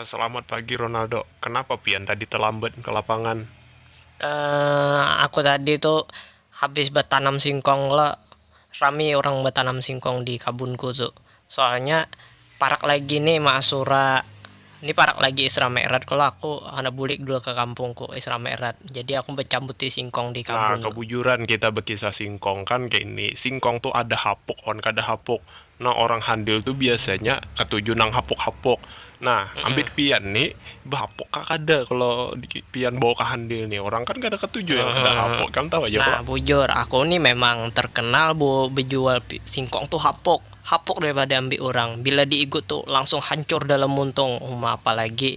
Selamat pagi Ronaldo, kenapa pian tadi telambat ke lapangan? Eemm aku tadi tu habis betanam singkong lo, rami orang betanam singkong di kabunku tu, soalnya parak lagi ni maasura, ni parak lagi isra mi'rat kalo aku handak bulik dulu ke kampungku isra mi'rat, jadi aku becambuti singkong di kabun. Nah kebujuran kita bekisah singkong kan kaini, singkong tu ada hapuk wan kada hapuk, Nang orang handil tu biasanya katuju nang hapuk-hapuk. Nah, ambit pian ni, bahapuk kah kada kalo pian bawa ka handil ni? Orang kan kada katuju yang kada hapuk. Ikam tahu haja kalo. Nah, bujur, aku ni memang terkenal bu bejual singkong tu hapuk. Hapuk daripada ambit urang. Bila diigut tu langsung hancur dalam muntung. Uma, apalagi.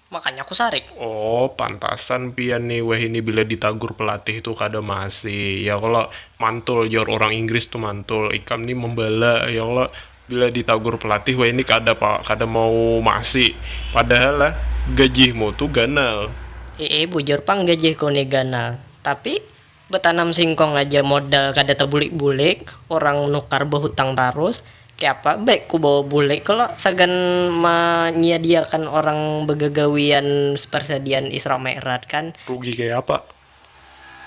Makanya ku sarik. Oh, pantasan pian ni wahini bila ditagur pelatih tu kada maasi, ya kalo? Mantul jar urang Inggris tu mantul. Ikam ni membala, ya kalo? Bila ditagur pelatih wahini kada pa, kada mau maasi. Padahal ah, gajihmu tu ganal. Iih, bujur pang gajihku ni ganal. Tapi, Betanam singkong aja modal kada tabulik-bulik, urang nukar behutang tarus, kayapa baik ku bawa bulik kalo sagan manyiadiakan urang begagawian persediaan Isra Mi'raj kan. Rugi kayapa?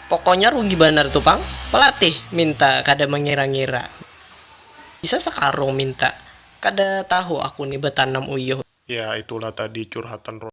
Pokonya rugi banar tu pang, pelatih minta kada mengira-ngira. Bisa sekarung minta, kada tahu aku ni betanam uyuh. Ya itulah tadi curhatan Ronald.